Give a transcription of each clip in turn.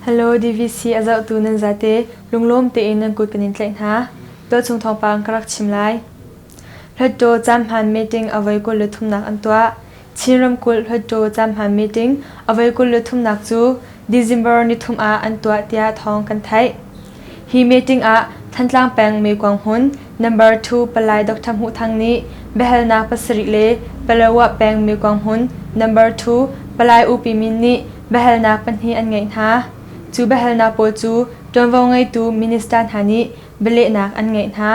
Hello DVC a zohtu nan zate lunglawm tein nan kut kan in tlaih hna. Dawt chung thawngpang ka rak chim lai. Hlatṭaw caan hmaan meeting avoi kul le thumnak an tuah. Chin ramkulh Hluttaw caanhman meeting avoi kul le thumnak cu December nithum ah an tuah tiah thawng kan theih. Hi meeting ah Thantlang peng Mekong hmun number 2 Palai Dr. Hmuh Thang nih biahalnak pasarih le Palawa peng Mekong hmun number 2 Palai Upi Min nih biahalnak pahnih an ngeih hna. Cu biahalnak pawl cu ṭuanvo ngeitu minister hna nih bialehnak an ngeih hna.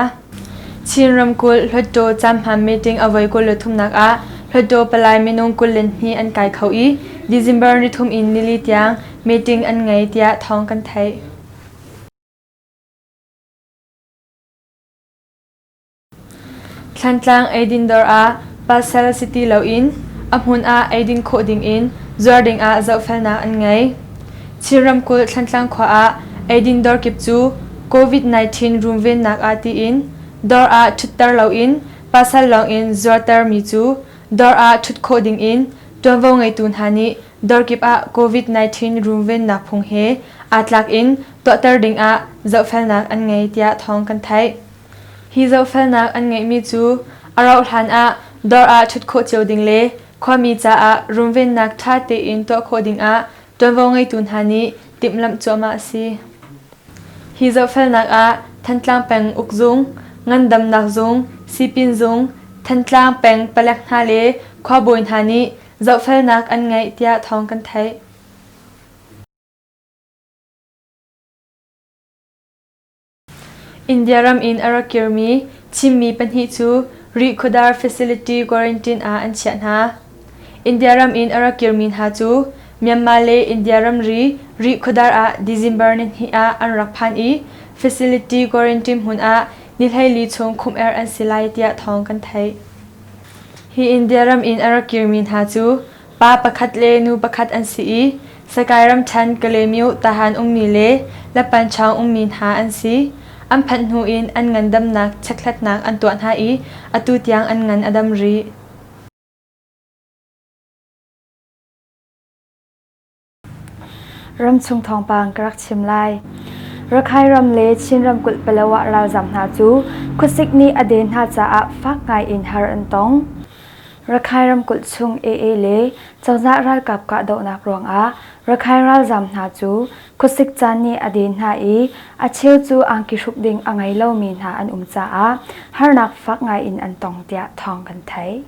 Chin ramkulh Hluttaw Camhma meeting avoi kul le thumnak ah Hluttaw palai minung kul le hnih an kai kho i December ni thum in nili tiang meeting an ngei tiah thawng kan theih. Thlantlang eidin dawr ah pasal si ti loin a hmun ah eidin khawh dingin zuar dingah zohfelnak an ngei. Chin ramkulh Thlantlang khua ah eidin dawr kip cu COVID-19 runvennak ah tiin dawr ah ṭhutter loin pasal lawngin zuartermi cu dawr ah ṭhut khawh dingin ṭuanvo ngeitu hna nih dawr kip ah COVID-19 runvennak phung he aa tlak in tuahter dingah zohfelnak an ngei tiah thawng kan theih. Hi zohfelnak an ngeihmi cu a rauhhlan ah dawr ah ṭhut khawh cio ding le khuami caah runvennak ṭha tein tuah khawh dingah ṭuanvo ngeitu hna nih timhlamh cuahmah a si. Hi zohfelnak ah Thantlang peng uk zung, ngandamnak zung, sipin zung, Thantlang peng palek hna le khuabawi hna nih zohfelnak an ngeih tiah thawng kan theih. India ram in a rak kirmi Chinmi pahnih cu Rihkhawdar facility quarantine ah an chiah hna. India ram in a rak kirmi hna cu Myanmar le India ramri Rihkhawdar ah December ni hnih ah an rak phan i facility quarantine hmun ah ni hleili chung khumh-er an si lai tiah thawng kan theih. Hi India ram in a rak kirmi hna cu Pa pakhat le nu pakhat an si i Sakae ramṭhen Kalaymyo Tahan ummi le Lapanchawng ummi hna an si. An phanh hnu in an ngandamnak chekhlatnak an tuah hna i atu tiang an ngan a dam rih. Ramchung thawngpang ka rak chim lai. Rakhine ram le Chin ramkulh Palawan ralzaam hna cu khuasik nih a den hna caah fak ngaiin har an tong. Rakhine ramkulh chung AA le cozah ralkap kahdohnak ruangah Rakhine ralzaam hna cu khuasik caan nih a den hna i a cheu cu angki hruk ding a ngei lomi hna an um caah harnak fak ngaiin an tong tiah thawng kan theih.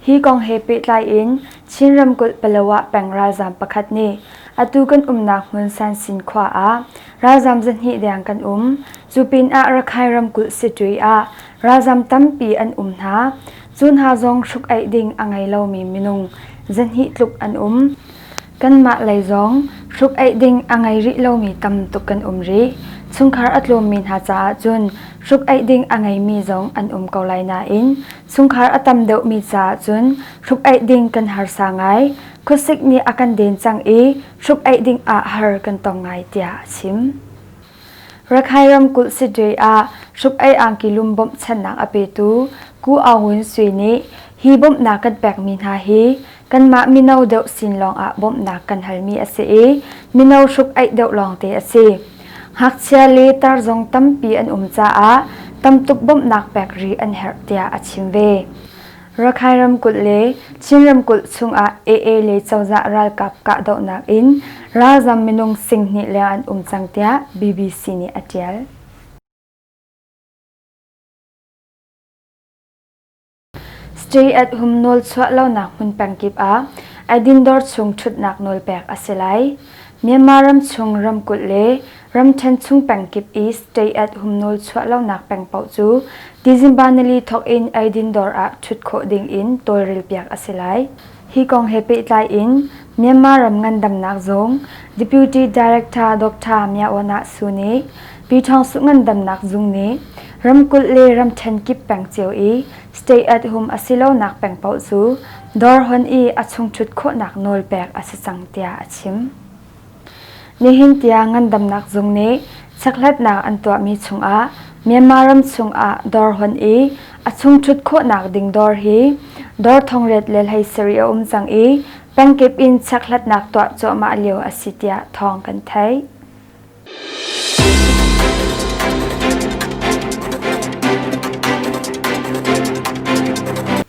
Hi kong he pehtlai in Chin ramkulh Palawa peng ralzaam pakhat nih atu kan umnak hmun Sansin khua ah ralzaam zahnih deng kan um. Cu pin ah Rakhine ramkulh Sitwe ah ralzaam tampi an um hna. Cu hna zong hruk aih ding a ngei lomi minung zahnih tluk an um. Kanmah lei zong hruk-aih ding a ngei rih lomi tam tuk kan um rih. Chungkhar a tlawmmi hna caah cun hruk-aih ding a ngeimi zong an um ko lai nain chungkhar a tam deuhmi caah cun hruk-aih ding kan harsa ngai. Khuasik nih a kan den cang i hruk-aih ding ah har kan tong ngai tiah a chim. Rakhine ramkulh Sidre ah hruk-ei angki lum bawmhchanhnak a petu Ku Aung Win Sui nih hi bawmhnak kan pekmi hna hi kanmah mino deuh sin lawngah bawmhnak kan halmi a si i mino hruk-aih deuh lawngte a si. Ngakchia le tar zong tampi an um caah tamtuk bawmhnak pek rih an herh tiah a chim ve. Rakhine ramkulh le Chin ramkulh chungah AA le cozah ralkap kahdohnak in ralzam minung singhnih leng an um cang tiah BBC nih a ṭial. Stay at home nawl chuah lonak hmun pengkip ah Adin dawr chung ṭhutnak nawl pek a si lai. Myanmar ram chung ramkulh le Ramṭhen chung peng kip i state-at humnawl chuah lonak peng paoh cu December nili thawk in eidin dawr ah ṭhut khawh ding in tawlrelpiak a si lai. Hi kong he pehtlai in Myanmar ram ngandamnak zung Deputy Director Doctor Mya Aw-Nah Suu nih Pi Thawng Suu Ngandamnak Zung nih ramkulh le ramṭhen kip peng cio i state-at hum a si lonak peng paoh cu dawr hon i a chung ṭhut khawhnak nawl pek a si cang tiah a chim. Nihin tiang ngandamnak zung nih checkhlatnak an tuahmi chungah Myanmar ram chungah dawr hon i a chungṭhut khawhnak ding dawr hi dawr thongriat le hlei sarih a um cang i pengkip in checkhlatnak tuah cuahmah lio a si tiah thawng kan theih.